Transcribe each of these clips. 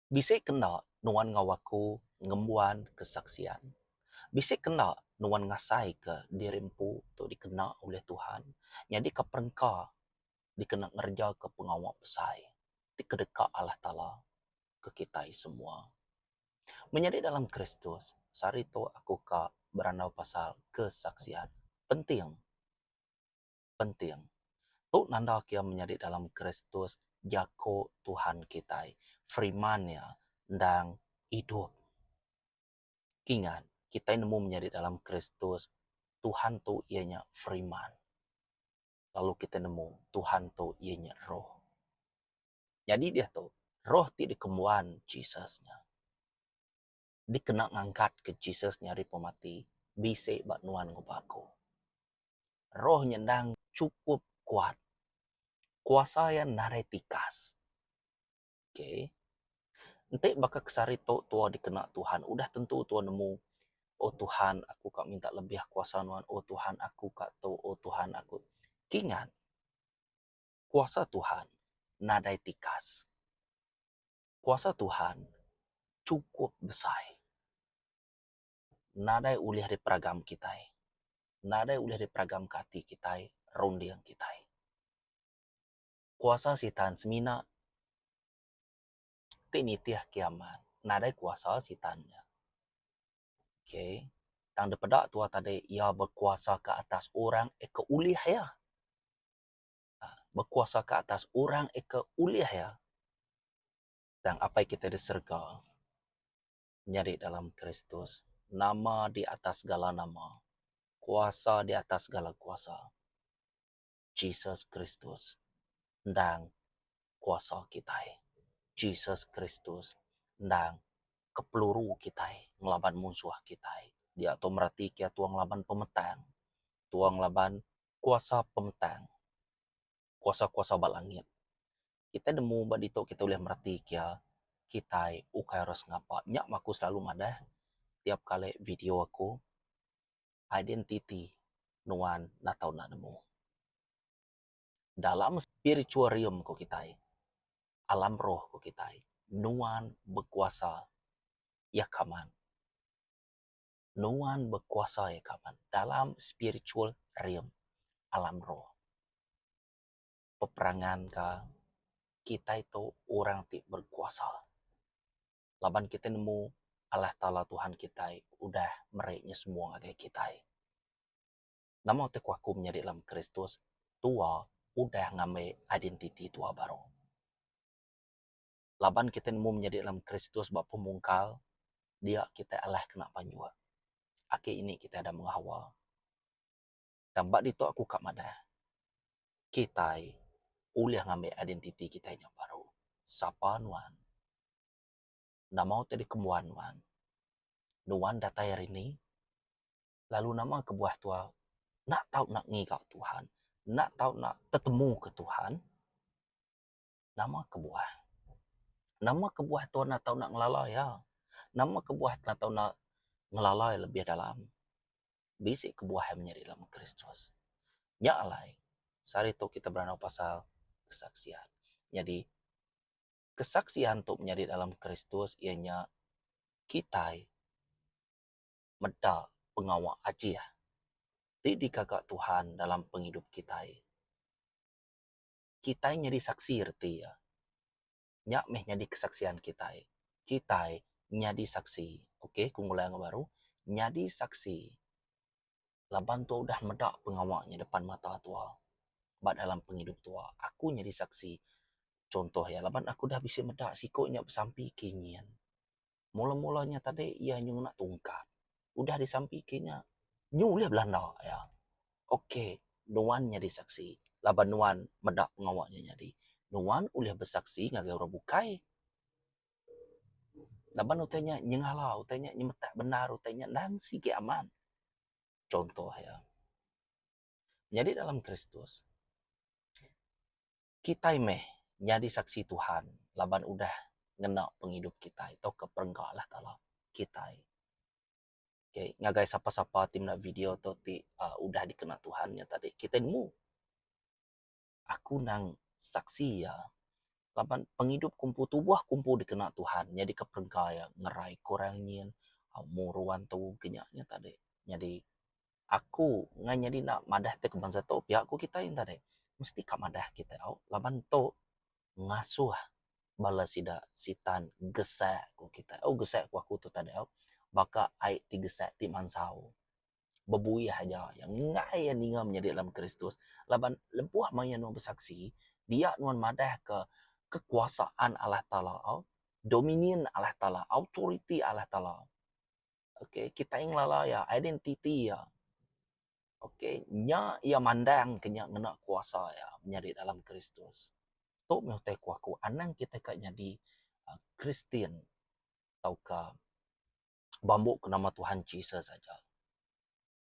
Bisi kena nuan enggau aku ngembuan kesaksian. Bisi kena nuan ngasaika diri empu tu dikena ulih Tuhan nyadika perengka dikena ngerejaka pengawa besai ti kedeka Allah Taala ke kitai semua. Menyadi dalam Kristus, sehari tu aku ka berandau pasal kesaksian. Penting! penting. Tu nanda kiya menyadi dalam Kristus, jaku Tuhan kitai. Firman Iya endang idup. Kingat, kitai nemu menyadi dalam Kristus, Tuhan tu iya nya Firman. Lalu kitai nemu, Tuhan tu iya nya Roh. Nyadi diatu, Roh ti dikembuan Jesus nya. dikena ngangkatka Jesus nyadi pemati bisi ba nuan enggau ba aku. Roh nya endang chukup kuat. Kuasa iya nadai tikas. Okay. Enti baka ke sehari tu tua dikena Tuhan, udah tentu tua nemu, Oh Tuhan, aku ka minta lebih kuasa nuan. Oh Tuhan, aku ka tu. Oh Tuhan, aku. Kingat, kuasa Tuhan nadai tikas. Kuasa Tuhan chukup besai. Nadai ulih diperagam kitai. Nadai ulih diperagamka ati kitai, runding kitai. Kuasa Sitan semina ti nitih kiaman. Nadai kuasa Sitan nya. Okay. Tang dipeda tuah tadi, iya bekuasa ke atas orang ke ulih iya. bekuasa ke atas orang ika ulih iya tang Apai kita di serega nyadi dalam Kristus nama di atas segala nama kuasa di atas segala kuasa Jesus Kristus endang kuasa kitai Jesus Kristus endang kepeluru kitai ngelaban munsuh kitai diatu meratika tua ngelaban pemetang tua ngelaban kuasa pengetang, kuasa-kuasa ba langit. Kita nemu ba ditu kita ulih mereti kia kitai ukai orang sengapa. Nya mah aku silalu madah tiap kali video aku identiti nuan enda tau enda nemu. Dalam spiritual realm ku kitai, alam roh ku kitai, nuan bekuasa iya kaman. Nuan bekuasai kaban dalam spiritual realm, alam roh. Beperangan ka kitai tu orang ti berkuasa laban kitai nemu Allah Taala Tuhan kitai udah meri nya semua ngagai kitai. Nama ti aku aku menyadi dalam Kristus tua udah ngambi identiti tua baru. laban kitai nemu menyadi dalam Kristus ba pemungkal, dia kitai alah ke nak panjua. Aki ini kitai dah mengawa. Tang ba ditu aku ka madah, kitai ulih ngambi identiti kitai nya baru. Sapa nuan? Nama utai dikembuan nuan? Nuan datai ari ni? Lalu nama kebuah tua nak tau nak ngiga Tuhan, nak tau nak tetemuka Tuhan? Nama kebuah? Nama kebuah tau enda tau ngelala iya? Nama kebuah enda tau ngelala iya lebih dalam? Bisi kebuah iya menyadi dalam Kristus. Nya alai se hari ito kita berandau pasal kesaksian. Nyadi kesaksian tu menyadi dalam Kristus iya nya kitai meda pengawa ajih ti digaga Tuhan dalam pengidup kitai. kitai nyadi saksi reti iya. Nya meh nyadi kesaksian kitai. Kitai nyadi saksi. Ok ku ngulai enggau baru, nyadi saksi laban tua udah meda pengawa nya depan mata tua ba dalam pengidup tua. Aku nyadi saksi chunto iya laban aku udah bisi meda siku nya besampi ke nyin. Mula-mula nya tadi iya nyau ngena tungkat. Udah disampi ke nya, nyu ulih belanda iya. Ok, nuan nyadi saksi laban nuan meda pengawa nya nyadi. Nuan ulih besaksi ngagai orang bukai. Laban utai nya nyengala, utai nya nyemetak bendar, utai nya endang sigi aman. Chunto iya. Nyadi dalam Kristus, Kitai meh nyadi saksi Tuhan laban udah ngena pengidup kitai tauka perengka Allah Taala kitai. Okay, ngagai sapa-sapa ti meda video tu ti aaa udah dikena Tuhan nya tadi kitai nemu aku nang saksi iya laban pengidup ku empu tubuh ku empu dikena Tuhan nyadika perengka iya ngerai ku orang nyin, aaa muruan tu ke nya nya tadi. Nyadi aku ngai nyadi enda madah ti kuman satu pia ku kitai enta deh mesti ka madah kitai au laban tu ngasuh bala sida sitan gesak ku kitai au gesak ku aku tu tadau baka ai ti gesak ti mansau bebuih aja iya ngai iya ninga menyadi dalam kristus laban lebuh maya iya nuan besaksi dia nuan madah ke kekuasaan Allah taala au dominion Allah taala authority Allah taala. Okay, kitai ngelala iya, identiti iya. Okay, nya iya mandangka nya ngena kuasa iya nyadi dalam Kristus. Tu meh utai ku aku, anang kitai ka nyadi uhh Kristian tauka bambu ke nama Tuhan Jesus aja.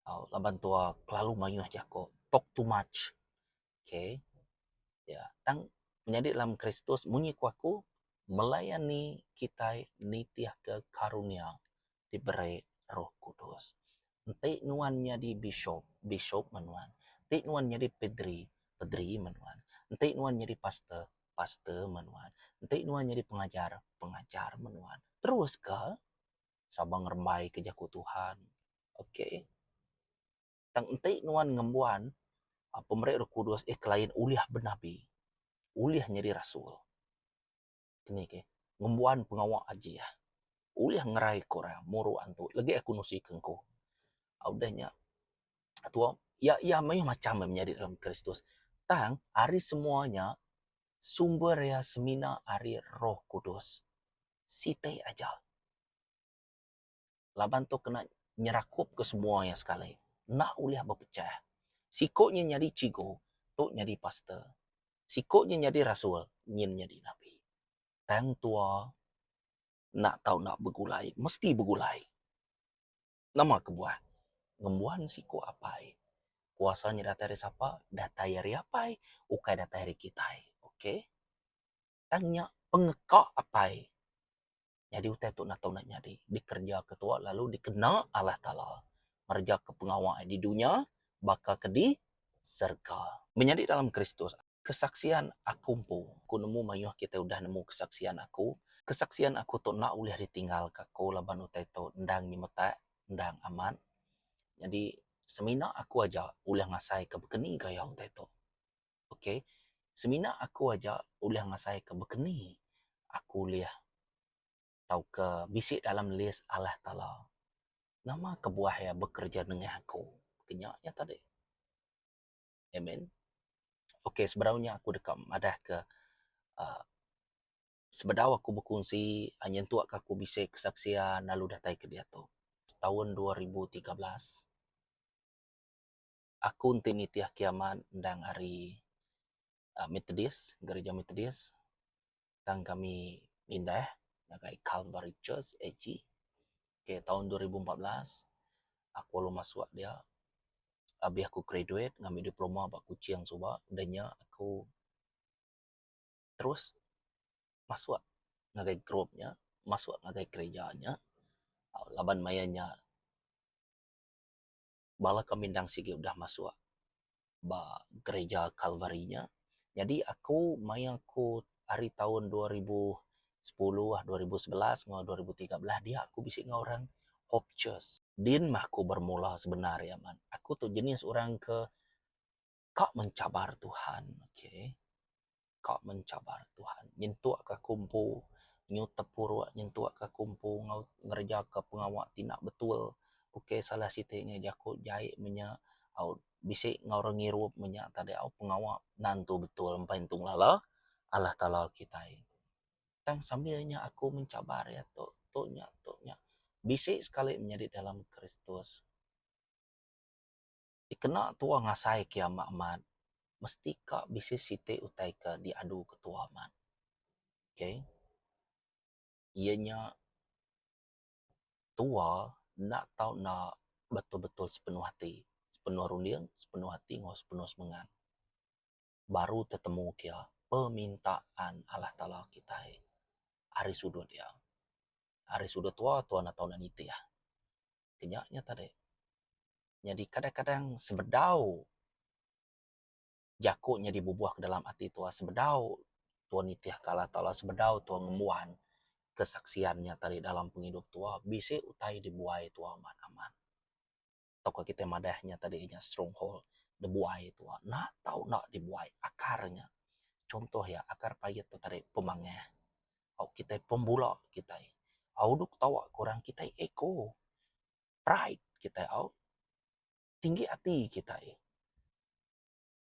au laban tua kelalu mayuh jako talk too much ok ya tang nyadi dalam kristus munyi ku aku melayani kitai nitih ka karunia diberi roh kudus enti nuan nyadi bishop bishop mah nuan enti nuan nyadi padri padri mah nuan enti nuan nyadi pastor pastor mah nuan enti nuan nyadi pengajar pengajar mah nuan terus ka sama ngerembai ke jaku Tuhan. Ok. Tang enti nuan ngembuan pemeri roh kudus eh kelain ulih benabi, ulih nyadi rasul, keni ke ngembuan pengawa ajih, ulih ngeraika orang, muru antu, legi aku nusika engku. Udah nya, tuo, iya, iya mayuh macham meh menyadi dalam Kristus. Tang, ari semua nya, sumber iya semina ari roh kudus. siti aja. Laban tu kena nyerakup ke semua iya sekali enda ulih bepecah. Siku nya nyadi chigu tu nyadi pastor. Siku nya nyadi rasul nyin nyadi nabi. Tang tua enda tau enda begulai mesti begulai. Nama kebuah ngembuan siku apai kuasa nya datai ari sapa datai ari apai ukai datai ari kitai. Okay. Tang nya pengeka apai nyadi utai tu natu enda nyadi. Dikerja ke tuak lalu dikena Allah Taala ngereja ke pengawa ai di dunya baka ke di serega. Menyadi dalam Kristus, kesaksian aku empu. Ku nemu mayuh kitai udah nemu kesaksian aku. Kesaksian aku tu enda ulih ditinggalka aku laban utai tu endang nyemetak, endang amat. Nyadi semina aku aja ulih ngasaika bekeni gaya utai tu. ok semina aku aja ulih ngasai ka bekeni aku ulih tauka bisi dalam list Allah taala nama kebuah iya bekerja nengah aku kenya nya tadi amen ok sebedau nya aku deka madah ka uhh sebedau aku bekunsi nyentuk ka aku bisi kesaksian lalu datai ke diatu taun dua ribu tiga belas. aku enti nitih kiamat endang ari methodis gereja methodis tang kami pindah ngagai calvary church AG okay taun dua ribu empat belas aku lalu masuk dia abih aku graduate ngambi diploma ba kuching suba udah nya aku terus masuk ngagai group nya masuk ngagai gereja nya laban maya nya bala ke mindang sigi udah masuk ba gereja Kalvari nya. Nyadi aku mayuh aku ari taun dua ribu sepuluh, dua ribu sebelas enggau dua ribu tiga belas dia aku bisi enggau orang Hope Church. Din mah aku bermula sebenar iya man. Aku tu jenis orang ke Ka mencabar Tuhan. Okay. Ka mencabar Tuhan. Nyentuk ka aku empu nyutep puruk, nyentuk ka aku empu enggau ngereja ka pengawa ti enda betul. Okay salah siti ngagai jaku jai menya au bisi enggau orang ngirup menya tadi au pengawa enda entu betul empai entu ngelala Allah Taala kitai. Tang sambil nya aku mencabar ia tu, tu nya, tu nya. Bisi sekali menyadi dalam Kristus. dikena tua ngasai ke ama amat mesti ka bisi siti utai ke diadu ke tua amat okay iya nya tua enda tau enda betul-betul sepenuh ati sepenuh runding sepenuh ati enggau sepenuh semengat baru tetemu ke iya permintaan Allah Taala kitai ari sudut iya ari sudut tua tua enda tau nitih. ke nya nya tadi nyadi kadang kadang sebedau jaku nyadi bubuh ke dalam ati tuah sebedau tuah nitih ke Allah taala sebedau tuah ngembuan kesaksian nya tadi dalam pengidup tuah bisi utai dibuai tuah amat amat tau ke kita madah nya tadi nya strong hold dibuai tuah enda tau enda dibuai akar nya contoh iya akar pait tu tadi pemangah au kitai pembula kitai au duk ketawa ke orang kitai ego pride kitai au tinggi ati kitai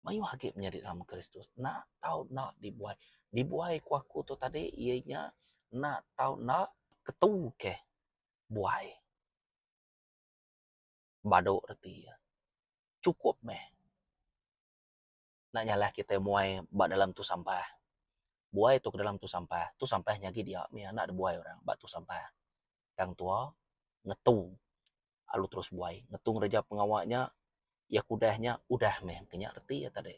mayuh agi menyadi dalam kristus enda tau enda dibuai dibuai ku aku tu tadi iya nya enda tau enda ketu ke buai badu reti iya chukup meh. enda nyalah kitai muai ba dalam tu sampah. Buai tu ke dalam tu sampah, tu sampah nyagi dia mih anak da buai orang ba tu sampah. Tang tua ngetu lalu terus buai, ngetu ngereja pengawa nya, iya ke udah nya udah mih engke nya reti iya tadi.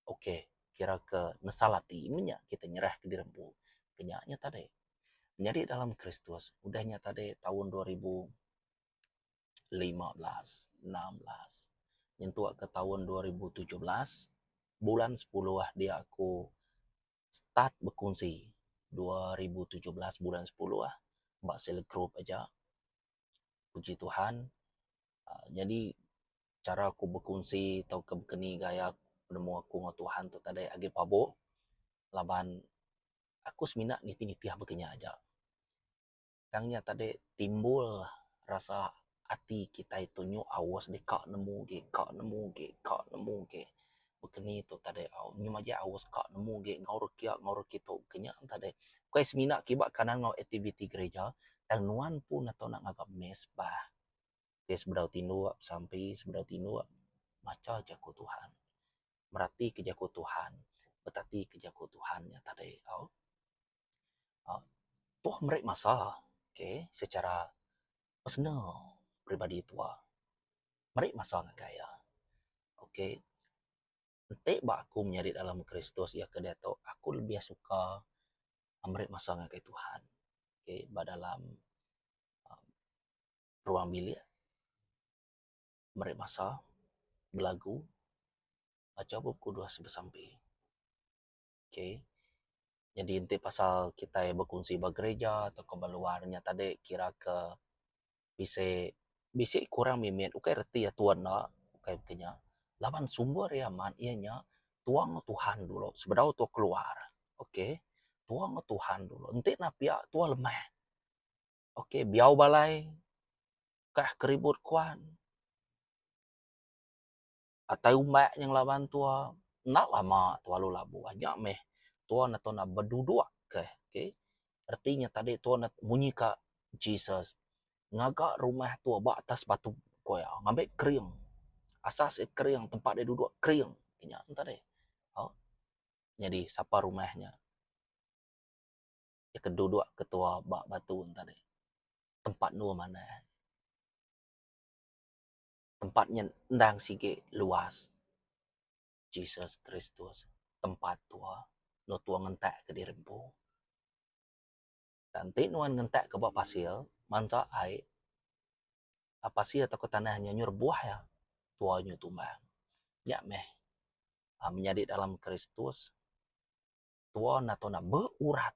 Ok kira ke nesal ati meh nya kitai nyerah ke diri empu. Ke nya nya tadi. Menyadi dalam Kristus udah nya tadi taun dua ribu. lima belas, enam belas nyentuk ke taun dua ribu tujuh belas bulan sepuluh diak aku start bekunsi dua ribu tujuh belas bulan sepuluh ba sila group aja puji Tuhan um nyadi chara ku bekunsi tauka bekeni gaya penemu aku enggau Tuhan tu tadai agi pabu laban aku semina nitih-nitih aba Kinya aja. Tang nya tadi timbul rasa ati kitai tu nyu aus dik ka nemu gik ka nemu gik ka nemu gik. Beken ni tu tadi au nyu maja aus ka nemu gik enggau re kiak enggau re kitu ke nya tadi. Ukai semina kiba kanan enggau aktiviti gerija tang nuan pun ato nak ngaga mass bah. Ke sebedau tinduk besampi sebedau tinduk macha jaku Tuhan. Merati ke jaku Tuhan betati ke jaku Tuhan nya tadi au. aaa tuoh meri masa okay secara personal peribadi tuoh meri masa ngagai iya okay enti ba aku menyadi dalam kristus iya ke diatu aku lebih suka meri masa ngagai tuhan okay ba dalam aaa ruang bilik meri masa belagu baca bup kudus besampi. ok nyadi enti pasal kitai bekunsi ba gerija atau ba luar nya tadi kira ke bisi bisi kurang mimit ukai reti atur enda ukai ti nya laban sumber iya amat iya nya tuang enggau tuhan dulu sebedau tu keluar ok tuang enggau tuhan dulu enti enda pia tuah lemah ok biau balai kah keribut kuan. atai umbak nyeng laban tua enda lama tua lalu labuh nya meh tua ne enda bedudok ke okay reti nya tadi tua ne munyi ka Jesus ngaga rumah tua ba atas batu ko iya ngambi kering asas ia kering tempat ia dudok kering nya tadi au nyadi sapa rumah nya ia ke dudok ke tua ba batu tadi tempat endur manah. tempat nyen endang sigi luas. Jesus Kristus tempat tua endur tua ngentak kediri empu. Tang enti nuan ngentak ka ba pasir, mansa ai a pasir tauka tanah nyen nyu rebuh iya, tua nyu tumbang. Nya meh a menyadi dalam Kristus. Tua enda tau nak beurat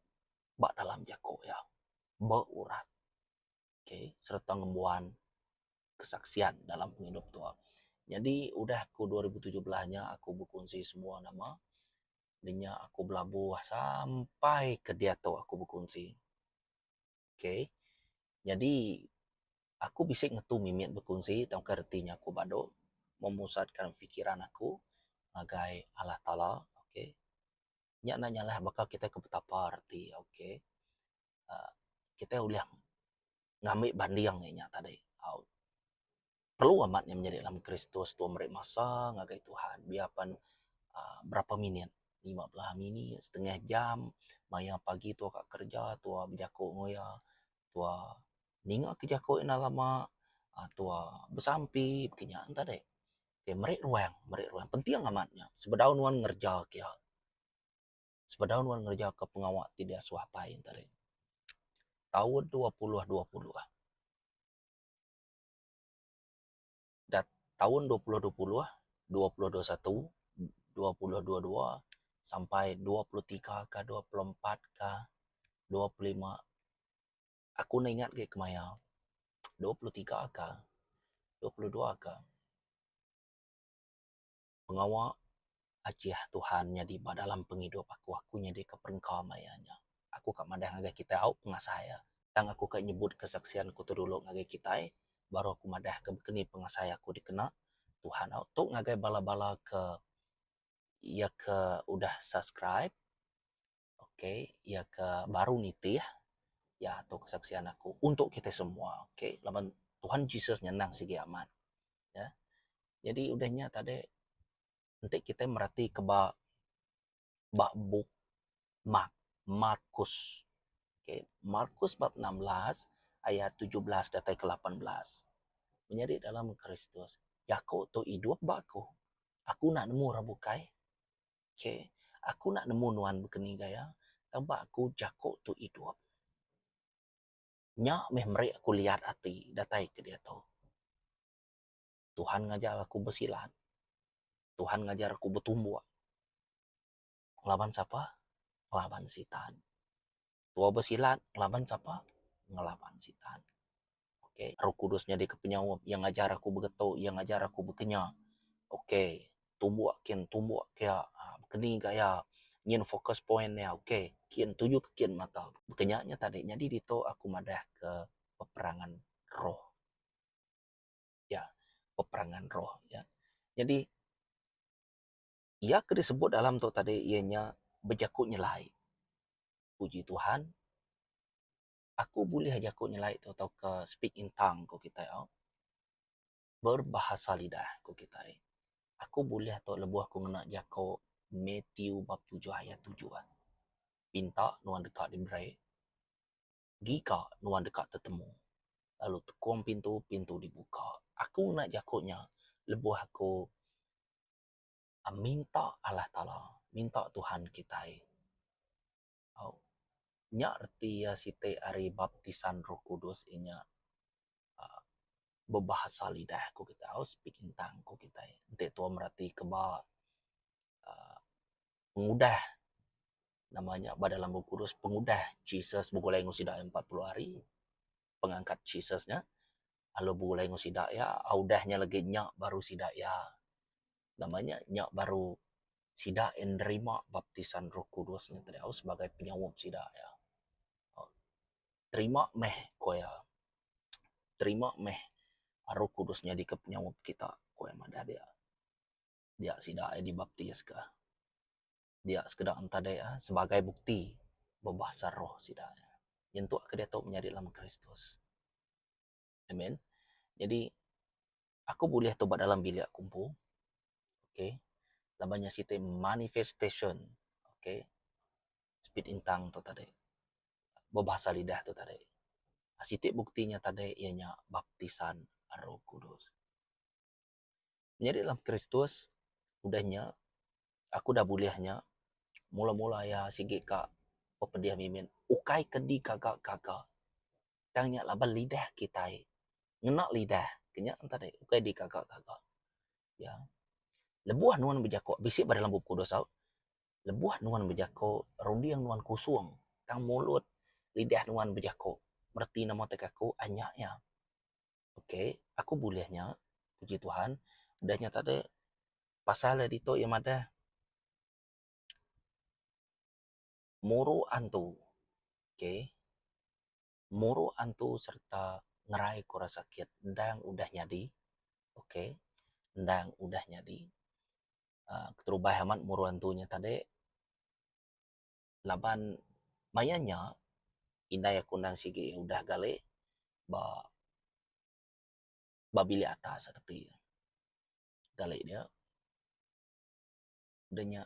ba dalam jako iya. Beurat. Ok sereta ngembuan kesaksian dalam pengidup tua. Nyadi udah ku dua ribu tujuh belas nya aku bekunsi semua nama de nya aku belabuh sampai ke diatu aku bekunsi. ok nyadi aku bisi ngetu mimit bekunsi tauka reti nya aku badu memusatkan fikiran aku ngagai Allah Taala ok nya enda nyalah baka kitai ke betapa reti ok uhh kitai ulih ngambi banding inya tadi au. perlu amat inya menyadi dalam Kristus tau meri masa ngagai Tuhan biya pan uhh berapa minit lima belah minit setengah jam maya pagi tau ka kerja tau bejaku enggau iya tau ninga ka jaku ina lama uhh tau besampi kinya enta deh ke meri ruang meri ruang penting amat nya sebedau nuan ngereja kiya sebedau nuan ngereja ka pengawa ti diasuh apai enta deh taun dua puluh dua puluh. dat taun dua puluh dua puluh, dua puluh dua satu, dua puluh dua dua sampai dua puluh tiga ka dua puluh empat ka dua puluh lima aku enda ingat gei kemaya dua puluh tiga ka dua puluh dua ka pengawa ajih Tuhan nyadi ba dalam pengidup aku, aku nyadi ke perengka maya iya nya. Aku ka madah ngagai kitai au pengasah iya. Tang aku ka nyebut kesaksian aku tu dulu ngagai kitai baru aku madah ke keni pengasah iya aku dikena Tuhan au. Tu ngagai bala-bala ke iya ke udah subscribe. ok iya ke baru nitih iya tu kesaksian aku untuk kitai semua ok laban Tuhan Jesus nyenang sigi amat ya jadi udah nya tadi enti kitai mereti ke ba ba bup Mark Markus ok Markus bab enam belas ayat tujuh belas datai ke lapan belas menyadi dalam Kristus jaku tu idup ba aku aku enda nemu orang bukai Ok, aku enda nemu nuan bekeni gaya tang ba aku jako tu idup. Nya meh meri aku liat ati datai ke diatu. Tuhan ngajar aku besilat, Tuhan ngajar aku betumbuk laban sapa? Laban sitan. Tua besilat ngelaban sapa? Ngelaban Sitan. Ok. Roh Kudus nyadika penyaup. Iya ngajar aku begetu. Iya ngajar aku bekenya. Ok. Tumbuk kin, tumbuk kia. Keni ga iya. Nyin focus point iya. Ok. Kin, tuju ke kin mata. Kenya nya tadi. Nyadi ditu aku madahka peperangan roh. Ya. Peperangan roh. Nyadi. Iya ke disebut dalam tu tadi iya nya bejaku nyelai. Puji Tuhan aku bulih jaku nyelai tu tauka speak in tongue ku kitai au. Berbahasa lidah ku kitai. Aku bulih tu lebuh aku ngena jaku Matthew bab tujuh ayat tujuh. Pinta nuan deka diberi, giga nuan deka tetemu, lalu tekung pintu, pintu dibuka. Aku ngena jaku nya lebuh aku minta Allah Taala minta Tuhan kitai au nya reti iya siti ari baptisan roh kudus inya um bebahasa lidah ku kitai au speak in tongue ku kitai enti tuwa mereti ke ba um pengudah nama nya ba dalam bup kudus pengudah Jesus begulai enggau sida empat puluh hari pengangkat Jesus nya lalu begulai enggau sida iya udah nya lagi nya baru sida iya nama nya nya baru sida iya nerima baptisan roh kudus ngin tau sebagai penyaup sida iya. Terima meh ku iya terima meh roh kudus nyadika penyaup kita ku iya madah dia. Dia sida iya dibaptiska. dia sekeda entadai a sebagai bukti bebasa roh sida nyentuk ke diatu menyadi lama Kristus. Amen. Jadi aku bulih tu ba dalam bilik aku empu. Okay. Laban nya siti manifestation. Okay. Speed intang tu tadi. Bebasa lidah tu tadi. Siti bukti nya tadi iya nya baptisan roh kudus. Menyadi dalam Kristus, udah nya, aku udah bulih nya, mula-mula iya sigi ka pepedih mimit, ukai ke digaga-gaga, tang nya laban lidah kitai, ngena lidah, ke nya enta deh, ukai digaga-gaga. Ya, lebuh nuan bejaku, bisi ba dalam Bup Kudus au, lebuh nuan bejaku, runding nuan kusung, tang mulut, lidah nuan bejaku, reti nama teka ku, anya iya. Ok aku bulih nya puji tuhan udah nya tadi pasal iya ditu iya madah muru antu ok muru antu sereta ngerai ku rasa sakit endang udah nyadi ok endang udah nyadi aaa keterubah amat muru antu nya tadi. laban maya nya indai aku endang sigi udah galik ba ba bilik atas reti galik dia de nya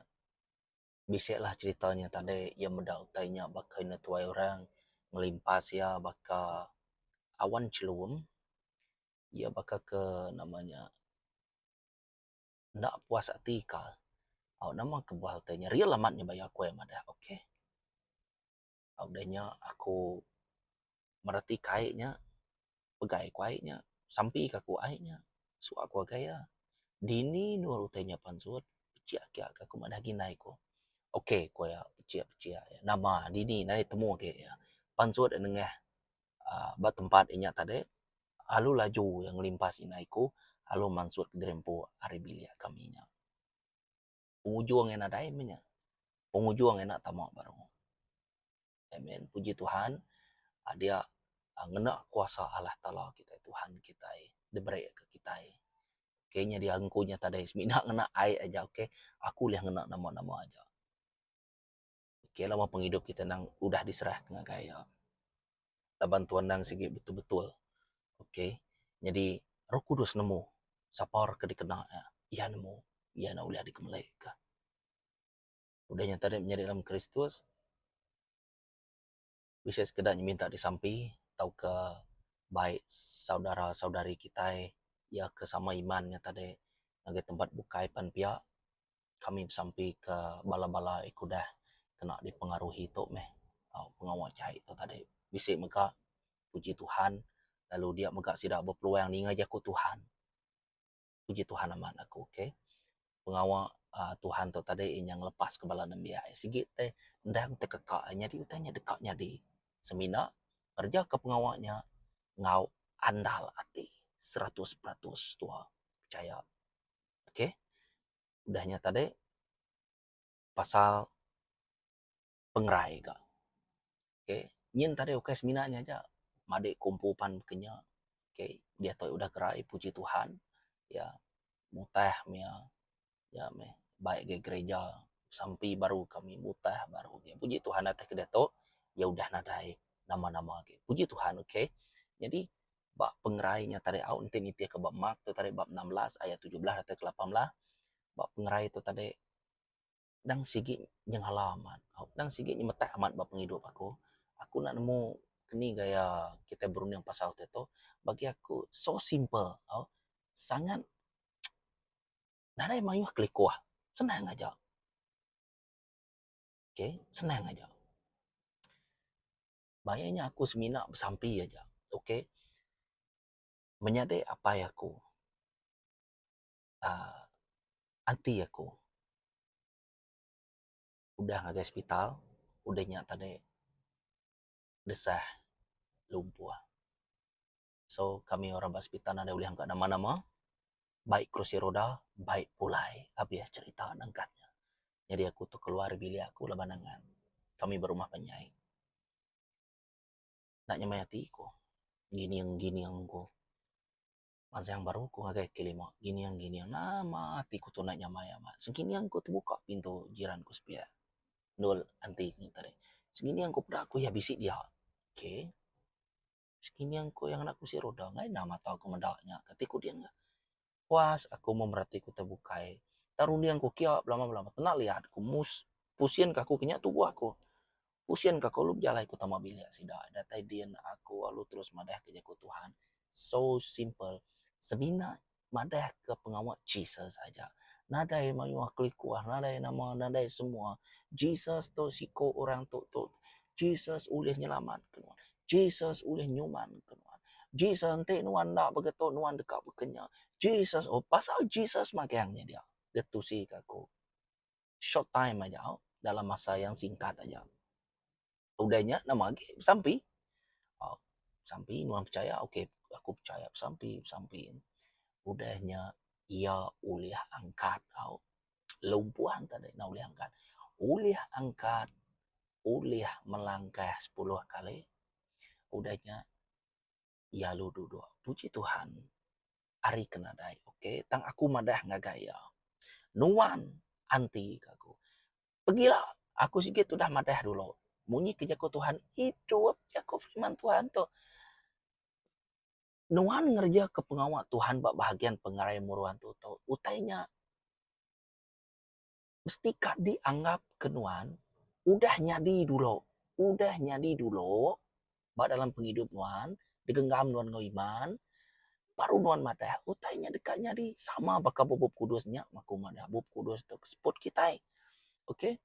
bisi lah cerita nya tadi iya meda utai nya baka ina tuai orang ngelimpas iya baka awan chelum iya baka ke nama nya enda puas ati ka au nama kebuah utai nya real amat nya baya ku ai madah ok au deh nya aku mereti ka ai nya pegai ku ai nya sampi ka ku ai nya suwa ku agai ia dini nur utai nya pan sut pejie ake ka ku madah agi nai ku ok ku ia pejie pejie nama dini nai temu ake ia pan sut nengah ba tempat inya tadi Alu laju iya ngelimpah sida iku alu mansut gerempu ari bilik kami nya. Pengujung iya nadai meh nya. Pengujung iya enda tama baru. Amen. Puji Tuhan adia ngena kuasa Allah Taala kitai Tuhan kitai dibereka kitai. Ke nyadi aku nya tadi semina ngena ai aja. Aku ulih ngena nama-nama aja. Fikir lawa pengidup kita nang udah diserahka ngagai iya. Laban Tuan endang sigi betul-betul. Ok. Nyadi Roh Kudus nemu sapa orang ke dikena iya, iya nemu, iya ne ulih dikemelika. Udah nyata nya menyadi dalam Kristus. bisi sekeda nyeminta disampi tauka baik saudara saudari kitai iya ke sama iman nya tadi ngagai tempat bukai pan pia kami besampi ke bala bala iko udah kena dipengaruhi tu meh pengawa jai tu tadi bisi mega puji Tuhan lalu dia mega sida bepeluang ninga jaku Tuhan. puji Tuhan amat aku ok pengawa uhh Tuhan tu tadi inya ngelepas ke bala nembiak iya sigi teh endang teh keka iya nyadi utai nya deka nyadi semina ngereja ke pengawa nya enggau andal ati seratus peratus tuha pechaya ok udah nya tadi pasal pengerai ga. Okay, nyin tadi ukai semina nya aja madik kumpu pan baka nya. Okay, diatu udah kerai puji Tuhan iya mutah mia iya meh bai ga gereja sampi baru kami mutah baru agi. Puji Tuhan atas kadi atu iya udah nadai nama-nama agi. Puji Tuhan okay. Nyadi ba pengerai nya tadi au enti nitih ka ba Mark tu tadi bab enam belas ayat tujuh belas datai ka lapan belas ba pengerai tu tadi Endang sigi nyengala amat, endang sigi nyemetak amat ba pengidup aku. Aku enda nemu keni gaya kitai berunding pasal ti tu. Bagi aku, so simple tau. Sangat nadai mayuh kelikuh. Senang aja. Okay, senang aja. Ba iya nya aku semina besampi aja. Okay. Menyadi apai aku. ati aku udah ngagai sepital udah nya tadi desah lumpuh so kami orang ba sepital nadai ulih engka nama nama baik kerusi roda baik pulai abih cherita nengkah nya nyadi aku tu keluar dari bilik aku laban angan kami berumah panjai enda nyamai ati ku ngining ngining ku Bansa yang baru ku ngagai ke lima gining gining nama ati ku tunai nyamai amat segining ku tebuka pintu jiran ku sepiak endur enti ku tadi segining ku peda ku iya bisi dia ok segining ku anak ku bisi rudah ngena enda mata ku meda nya ati ku ding nya puas aku mun bera ati ku tebukai enda runding ku kiya belama belama kena liat ku mus pusing ka aku ke nya tubuh aku. Usin ka kulu bejalai ku tama bilik sida datai din aku alu terus madah ka jaku Tuhan so simple semina madah ka pengawa Jesus aja nadai mayuh kelikuh nadai nama nadai semua Jesus tu siko orang tu tu Jesus ulih nyelamat ka nuan Jesus ulih nyuman ka nuan Jesus enti nuan enda pega tu nuan deka baka nya Jesus oh pasal Jesus magang nya dia da tusi ka aku. short time aja dalam masa yang singkat aja udah nya nama agi besampi um besampi nuan pechaya ok aku pechaya besampi besampi udah nya ia ulih angkat au lumpuan tadi enda ulih angkat ulih angkat ulih melangkah sepuluh kali udah nya Iya lalu duduk. Puji Tuhan, ari ke nadai ok. Tang aku madah ngagai iya, Nuan anti ke aku. Pegila, aku sigi udah madah dulu. Munyi ke jaku Tuhan, idup jaku firman Tuhan tu. Nuan ngereja ke pengawa Tuhan ba bahagian pengerai Muruan tu tu. Utai nya. mesti ka dianggap ke nuan udah nyadi dulu udah nyadi dulu ba dalam pengidup nuan gegenggam nuan enggau iman baru nuan madah utai nya deka nyadi sama baka ba bup kudus nya aku madah bup kudus tu ke seput kitai. Ok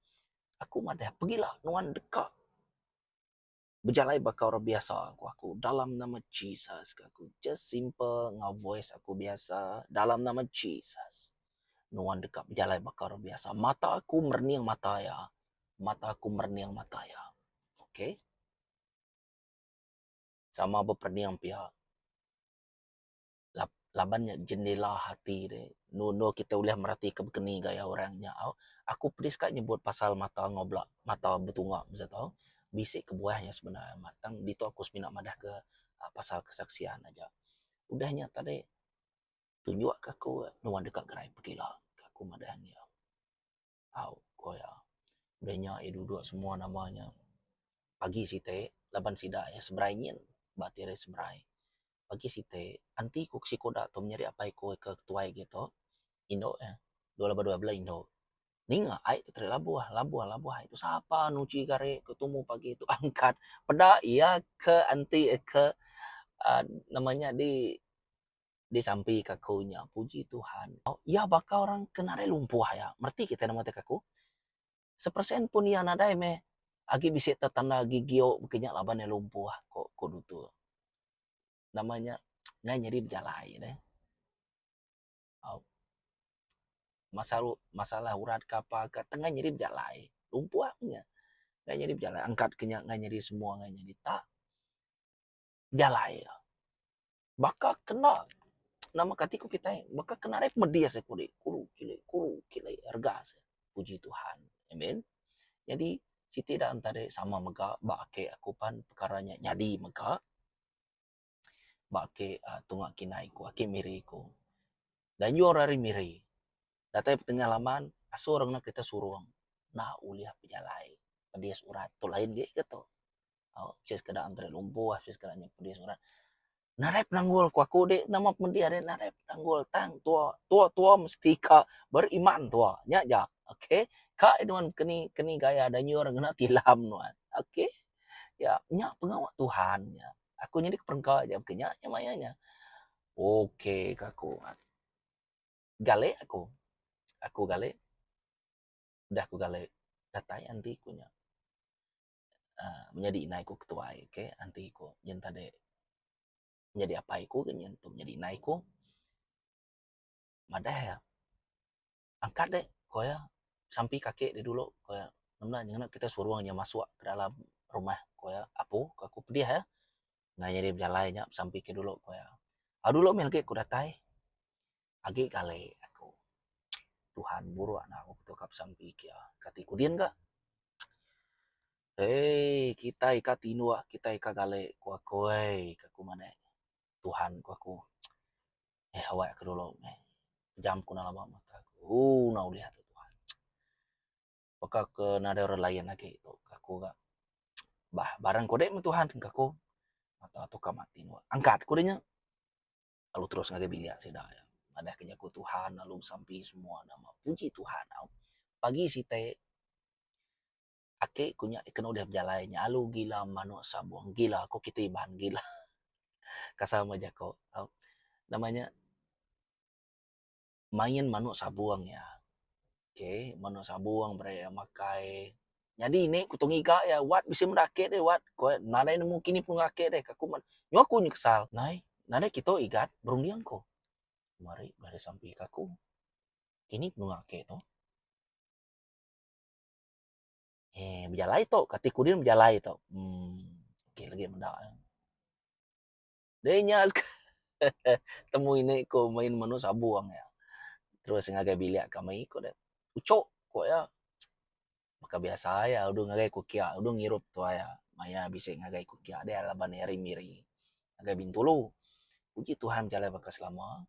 aku madah pengila nuan deka. Bejalai baka orang biasa ku aku dalam nama Jesus ku aku. Just simple enggau voice aku biasa dalam nama Jesus. Nuan deka bejalai baka orang biasa. Mata aku merening mata iya. Mata aku merening mata iya. Okay. Sama beperening pia. laban nya jendela ati deh nunu kita ulih mereti ke keni gaya orang nya au aku pedis ka nyebut pasal mata enggau bela mata betunga besia tau bisi kebuah nya semina amat tang ditu aku semina madah ke pasal kesaksian aja udah nya tadi tunjuk ka aku nuan deka gerai pekila aku madah nya. Au, ko iya. Udah nya iya duduk semua nama nya pagi siti laban sida iya seberai nyin ba ati hari seberai. Pagi siti enti ku sikuda tu menyadi apai ku ke tuai agi tu indu iya dua laban dua bela indu ninga ai tu tadi labuh labuh labuh ai tu sapa nuchi gari ke tumu pagi tu angkat peda iya ke enti iya ke aaa nama nya di Disampi ka aku nya puji Tuhan. Iya baka orang ke nadai lumpuh iya. Mereti kitai nemu ti ka aku. Sepersen pun iya nadai meh agi bisi tetanda gigiu baka nya laban iya lumpuh ko ko dutur. Nama nya ngai nyadi bejalai neh. Au masa masalah urat ka apa ka tengah nyadi bejalai. Lumpuh nya ngai nyadi bejalai angkat ka nya ngai nyadi semua ngai nyadi tak. jalai iya. Baka kena nama kati ku kitai baka kena ari pemedis aku di kulu kile kulu kile rega se. Puji Tuhan. Amen. Nyadi siti da enta dei sama mega ba ake aku pan pekara nya nyadi mega ba ake tunga kinden ku ake miri ku. Dayung ari miri Datai betengah laman asur ngena kerita surung enda ulih bejalai pedis urat tu lain agi ke tu bisi sekeda enteri lumpuh bisi sekeda nyau pedis urat nadai penanggul ku aku dik nama pemedih ari nadai penanggul tang tua tua tua mesti ka beriman tua nya ja ok ka nuan keni keni gaya da nyiur ngena tilam nuan ok ya nya pengawa Tuhan nya aku nyadi ke perengka ja baka nya nya maya nya ok ka ku. Galik aku. Aku galik. Udah aku galik, datai anti ku nya. Aaa menyadi indai ku ketuai ke anti ku nyin enta dek nyadi apai ku ke nyin tu nyadi indai ku. Madah iya, angkat dek, ku iya. Sampi ke aki dek dulu, ku iya. Ngena nya ngena kita suruh inya masuk ke dalam rumah, ku iya. Apu, ku aku pedih iya. Enda nyadi bejalai nya besampi ke dulu ku iya. Au dulu mih agi ku datai agi kali aku Tuhan buruk enda ku ketu ka besampi ke iya. Kati kudin ka eii kitai ka tinduk kitai ka kali ku aku ai ku aku manik Tuhan ku aku eh awak aku dulu mih pejam ku enda laba mata ku ooh enda ulih atu Tuhan. baka ke nadai orang layan agi tu ke aku ga bah barang ku dek me tuhan ke aku mata tukar mati nua angkat ku dinya lalu terus ngagai bilik sida nya madah ke jaku tuhan lalu besampi semua nama puji tuhan au pagi siti ake ku nya ke udah bejalai nya alu gila manuk sabong gila ku kiti iban gila kasam me jaku au nama nya main manuk sabung iya. Ok manuk sabung bere iya makai. Nyadi inde ku tu ngiga iya wat bisi meda ake deh wat ku iya nadai nemu kini penunggang ake deh ka ku meh. Nyu aku nyesal nai nadai kitu igat berunding ku. Mari bala disampi ka ku kini penunggang ake tu. Heh bejalai tu kati kudin bejalai tu. Uhh ok legi meda. Deh nya temui ne ko main menu sabong iya. Terus ngagai bilik kami ko deh. Uchok ko iya. Baka biasa iya udung ngagai ko kia udung ngirup tua iya. Maya bisi ngagai ko kia deh laban iya ari miri ngagai bintulu. Puji Tuhan bejalai baka selama.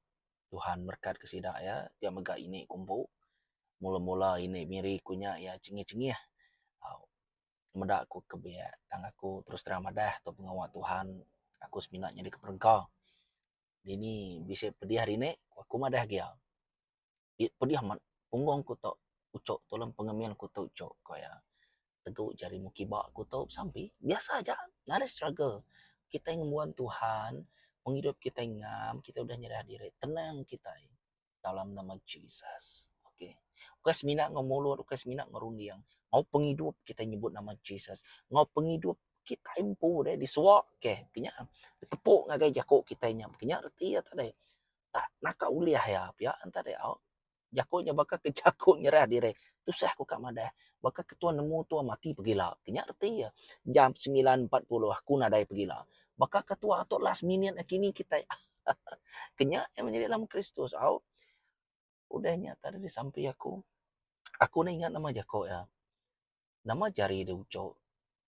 Tuhan berkat ke sida iya pia mega ini ko empu. Mula-mula ini miri ko nya iya chengih-chengih. Au. meda aku ke biak tang aku terus terang madah tu pengawa Tuhan aku semina nyadi ke perengka dini bisi pedih hari ni aku madah gia yak pedih amat punggung ku tu ucok tulong pengemin ku tu ucok ko iya tegu jari mu kiba ku tu sampi biasa aja ina na struggle kitai ngembuan Tuhan pengidup kitai ngam kitai udah nyerah diri tenang kitai. dalam nama Jesus. Okay. Ukai semina enggau mulut, ukai semina enggau runding. Enggau pengidup kitai nyebut nama Jesus. Enggau pengidup kitai empu deh disuak keh. Kena ditepuk ngagai jaku kitai nya. Kena reti iya tadi. Tak naka ulih iya pia enta deh. Au. Jaku nya baka ke jaku nyerah diri. Tusah ku ka madah. Baka ke tuan nemu tuan mati pegila. Kena reti iya. Jam semilan empat puluh aku nadai pegila. Baka ke tuan atuk last minute nakini kitai. Kenya iya menyadi dalam Kristus au. Udah nya tadi disampi aku, aku enda ingat nama jako iya. Nama jari dia uchok,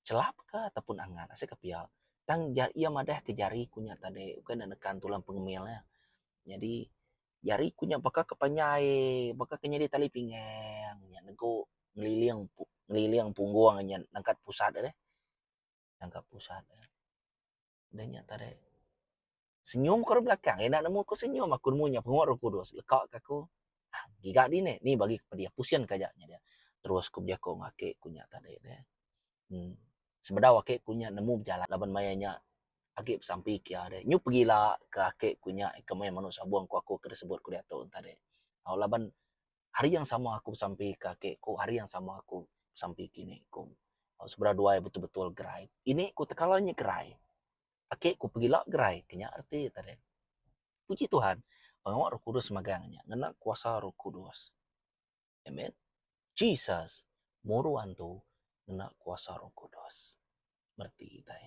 chelap ka atau pun angat asai ka pia. Tang iya madah ke jari ku nya tadi ukai enda nekan tulang pengemil iya. Nyadi jari ku nya baka ke panjai, baka ke nyadi tali pinggang nya nego ngeliling ngeliling punggung nya nangkat pusat deh. Nangkat pusat. Udah nya tadi senyum ku ari belakang enda nemu ku senyum aku nemu nya pengoh roh kudus leka ka aku ah giga dini ni bagi ku pediah pusing ka aja nya dia terus ku bejaku enggau aki ku nya tadi ne uhh sebedau aki ku nya nemu bejalai laban maya nya agi besampi kia deh nyu pegila ka aki ku nya ika maya menu sabong ku aku ke disebut ku diatu tadi au laban Hari yang sama aku besampi ke aki ku hari yang sama aku besampi ke ini ku. Tau sebedau duai betul-betul gerai. Ini ku tekala nya gerai. Aki ku pegila gerai ke nya reti te deh. Puji Tuhan pengawa Roh Kudus megang nya ngena kuasa Roh Kudus. Amen. Jesus muru antu ngena kuasa Roh Kudus. Bereti kitai.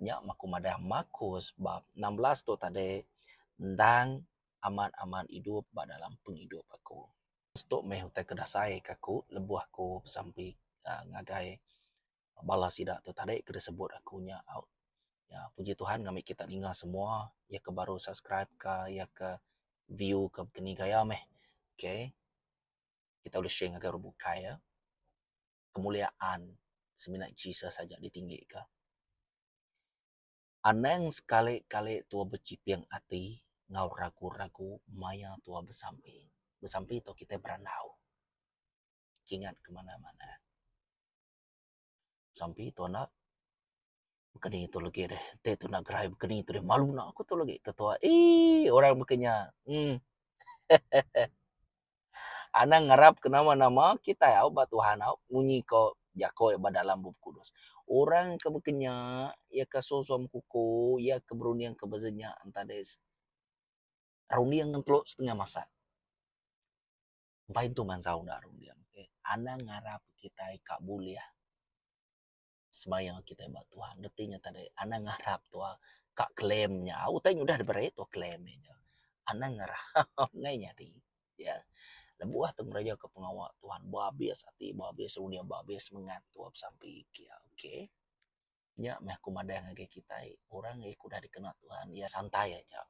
Nya meh aku madah Markus bab enam belas tu tadi endang amat-amat idup ba dalam pengidup aku. Markus tu meh utai ke dasai ke aku lebuh aku besampi aaa ngagai bala sida tu tadi ke disebut aku nya au. Nya puji Tuhan ngambika kita ninga semua iya ke baru subscribe ka iya ke view ka keni gaya meh. Okay. Kita ulih share ngagai orang bukai ya. kemuliaan semina Jesus aja ditinggika. Anang sekali-kali tuah bechiping ati enggau ragu-ragu maya tuah besampi. Besampi tu kitai berandau kingat ke manah-manah. Besampi tu enda Bekeni tu legi deh enti tu enda gerai bekeni tu deh malu nau aku tu legi ketua eii orang baka nya emm hehehe anang ngarap ke nama nama kitai au ba Tuhan au munyi ko jako ba dalam bup kudus orang ke baka nya ia ka suwa suwa bekuko ia ka berunding ka beza nya enta deh runding ngan telo setengah masa mbai tu mansau enda runding anang ngarap kitai ka bulih. semaya kitai ba Tuhan reti nya tadi anang ngarap tuwa ka claim nya utai nya udah diberi tuwa claim meh nya anang ngarap nai nyadi iya lebuh tu ngereja ka pengawa Tuhan ba abis ati ba abis unyau ba abis semangat tuwa besampi kia okay nya meh ku madang ngagai kitai orang iko udah dikena Tuhan iya santai aja.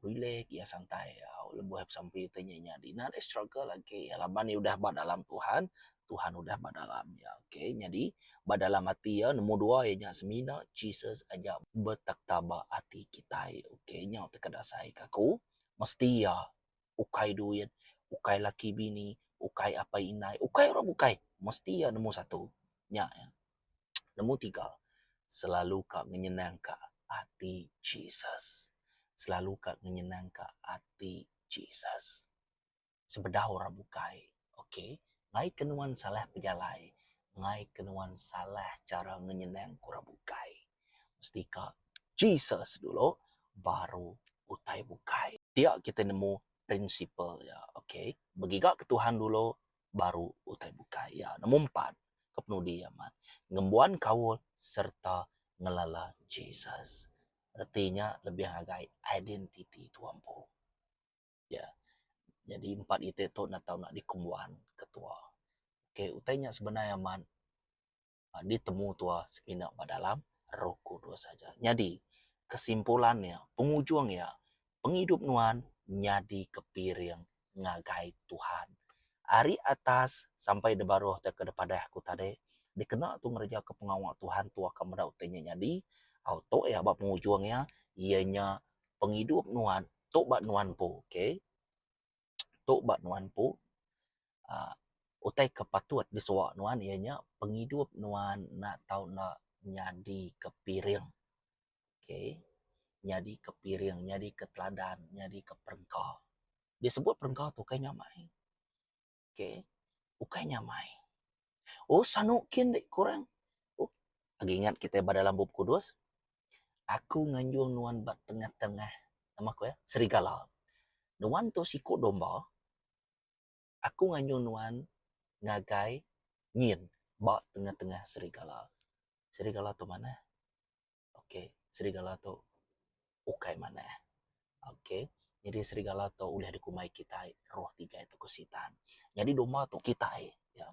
Relax iya santai lebuh besampi ti nya nya ina agi struggle agi laban iya udah ba dalam Tuhan, Tuhan udah ba dalam iya. Okay nyadi ba dalam ati iya nombor dua iya nya semina Jesus aja betakhta ba ati kitai. Okay nya tauka dasai ka aku mesti iya ukai duit, ukai laki bini, ukai apai indai, ukai orang bukai mesti iya nombor satu. Nya iya. Nemu tiga, selalu ka ngenyenang ka ati Jesus. Selalu ka ngenyenang ka ati Jesus. Sebedau orang bukai, ok, ngai ke nuan salah pejalai, ngai ke nuan salah chara ngenyenang ka orang bukai, mesti ka Jesus dulu baru utai bukai. Dia kita nemu prinsipal iya, ok, begiga ke Tuhan dulu, baru utai bukai iya nemu empat ke penudi iya mat ngembuan kaul sereta ngelala Jesus. Reti nya lebih ngagai identiti tua empu. Iya. Nyadi empat iti tu enda tau dikembuan ketua. Okey utai nya sebenar amat ditemu tua semina ba dalam Roh Kudus aja. Nyadi kesimpulan iya, pengujung iya, pengidup nuan nyadi kepiring ngagai Tuhan. Ari atas sampai da baruh tauka da padah aku tadi, dikena tu ngerejaka pengawa Tuhan tua ka meda utai nya nyadi, au tu iya ba pengujung iya, iya nya pengidup nuan tu ba nuan empu. Okay. Tu ba nuan empu aaa utai ke patut disuwa nuan iya nya pengidup nuan enda tau enda nyadi ke piring okay nyadi ke piring nyadi ke teladan nyadi ke perengka. Disebut perengka tu kai nya amai. Okay. Ukai nyamai. Oh, sanu kin dek korang. Oh, agi ingat kita ba dalam bup kudus. Aku nganjung nuan ba tengah-tengah. Nama aku ya? Serigala. Nuan tu siku domba. Aku nganjung nuan ngagai nyin ba tengah-tengah serigala. Serigala tu mana? Okay, serigala tu ukai manah. Okay, nyadi serigala tu ulih dikumbai kitai roh tiga tu ko sitan. Nyadi doma tu kitai ya.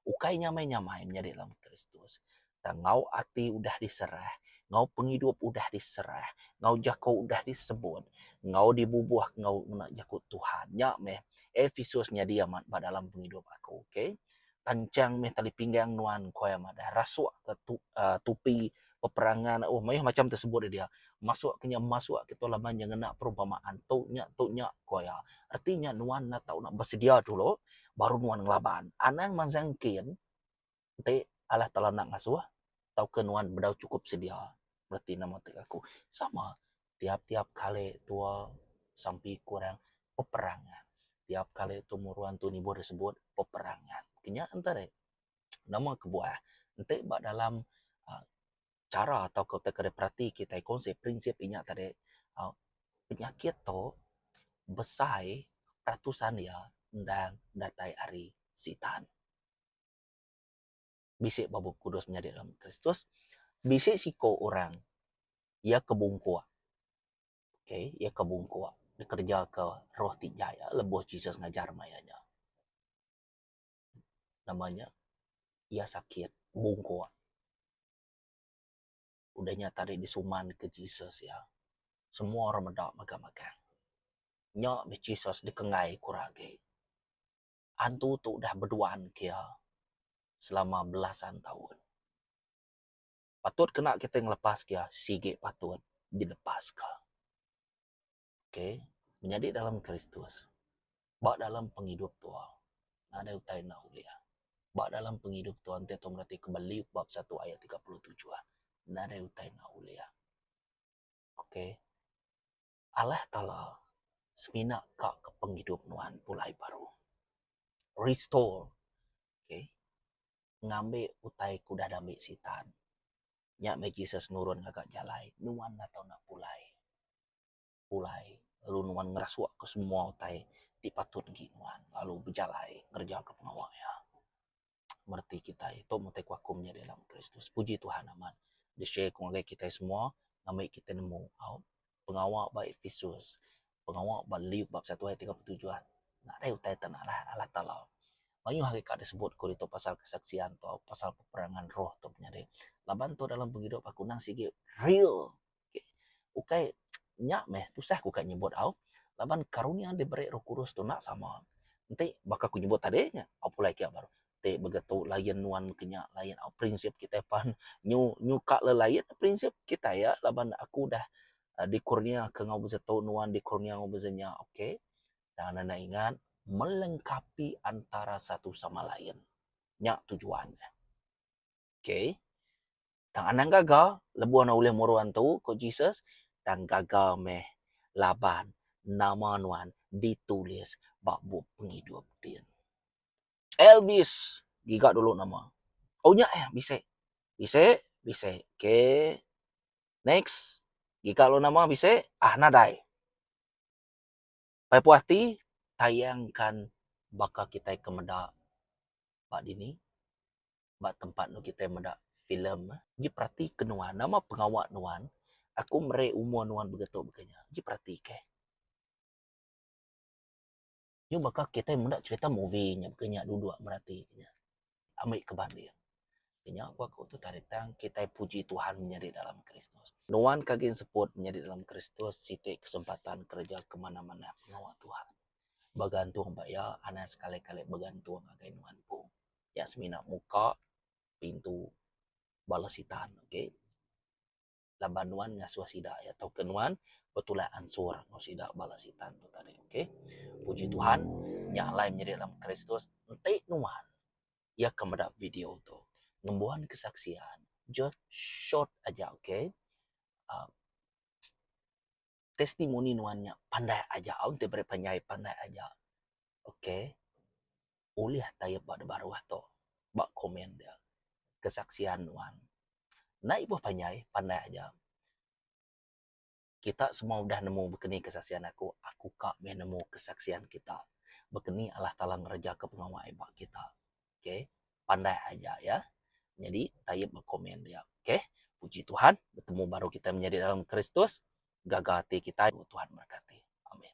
Ukai nyamai-nyamai menyadi dalam Kristus. Tang enggau ati udah diserah, enggau pengidup udah diserah, enggau jako udah disebut, enggau dibubuh enggau ngena jako Tuhan. Nya meh Episus nyadi amat ba dalam pengidup aku. Okay. Panchang mih tali pinggang nuan ku iya madah. Rasuk ka tupi peperangan uhh mayuh macham ti sebut iya dia. Masuk ka nya masuk kitu laban iya ngena perumpamaan tu nya tu nya ku iya. Reti nya nuan enda tau nak besedia dulu baru nuan ngelaban. Anang mansa engkin ti alah telanak ngasuh tauka nuan bedau chukup sedia. Reti ne matik aku sama tiap-tiap kali tua sampi ku orang peperangan tiap kali temurun tu nibuh deh sebut peperangan kinya enta rih nama kebuah enti ba dalam uhh chara tau ke utai ke diperati kitai konsep prinsip inya tadi uhh penyakit tu besai peratusan iya endang datai ari sitan. bisi ba Bup Kudus menyadi lama Kristus, bisi siko orang iya ke bungkuk, okay, iya ke bungkuk dikereja ke roh ti jai iya lebuh Jesus ngajar maya nya. Nama nya, iya sakit, bungkuk. Udah nya tadi disuman ke Jesus iya, semua orang meda magang-magang. Nya meh Jesus dikenggai kura agi. Antu tu udah beduan ke iya selama belasan taun. Patut kena kitai ngelepas ke iya sigi patut dilepas ka. Ok. Menyadi dalam Kristus, ba dalam pengidup tu nadai utai enda ulih. Ba dalam pengidup tu enti kita mereti ke ba Luke bab satu ayat tiga puluh tujuh, nadai utai enda ulih. Ok. Alah Taala semina ka ke pengidup nuan pulai baru. Restore. Okay. Ngambi utai ke udah diambi Sitan. Nya meh Jesus nurun ngaga jalai nuan enda tau nak pulai. Pulai lalu nuan ngerasukka semua utai ti patut enggi nuan lalu bejalai ngereja pengawa iya. mereti kitai tu matai ku aku menyadi anak kristus puji tuhan amat di share ku ngagai kitai semua ngambi kitai nemu au pengawa ba epistus pengawa ba luke bab satu ayat tiga puluh tujuh nadai utai tan alah alah taala mayuh agi ka disebut ku ditu pasal kesaksian tau pasal peperangan roh tu menyadi laban tu dalam pengidup aku nang sigi real Okay. Ukai nya meh tusah aku ka nyebut au laban karunia diberi roh kudus tu enda sama. Enti baka ku nyebut tadi nya au pulai ke baru ti mega tu lain nuan ke nya lain au prinsip kitai pan nyu nyu ka le lain prinsip kitai iya laban aku udah dikurnia ke enggau bisi tu nuan dikurnia enggau bisi nya okay. Tang enda ingat melengkapi antara satu sama lain. Nya tujuan ne. Okay. Tang anang gaga lebuh ne ulih muru antu, ku Jesus. Tang gaga meh laban nama nuan ditulis ba Bup Pengidup din. Elvis, giga dulu nama. Oh nya eh, bisi. Bisi, bisi. Okay. Next. Giga lalu nama bisi. Ah nadai. Pai puah ati tayangkan baka kitai ke meda ba dini ba tempat enu kitai meda filem eh. Agi peratika nuan nama pengawa nuan aku meri umur nuan begetu baka nya. Agi peratika. Nya baka kitai meda cerita movie nya baka nya duduk meratika nya. ambi ke banding. Nya ku aku tu tadi tang kitai puji Tuhan menyadi dalam Kristus. Nuan ke agin seput menyadi dalam Kristus siti kesempatan kereja ke manah-manah pengawa Tuhan. Begantung ba iya anang sekali-kali begantung ngagai nuan empu. Nya semina muka pintu bala Sitan. Okay. laban nuan ngasuh sida iya tauka nuan betulak ansur enggau sida bala sitan tu tadi ok. Puji Tuhan nya alai menyadi dalam Kristus enti nuan iya ke meda video tu ngembuan kesaksian just short aja ok. uhh. testimoni nuan nya pandai aja au enti beri panjai pandai aja ok ulih tayep ba de baruh tu ba komen dia kesaksian nuan enda ibuh panjai pandai aja kita semua udah nemu bekeni kesaksian aku aku ka meh nemu kesaksian kita bekeni Allah taala ngereja ka pengawa ai ba kita. okay pandah aja ya jadi taib ba komen dia okay puji tuhan betemu baru kita menyadi dalam kristus gaga ati kitai tuhan berkati amin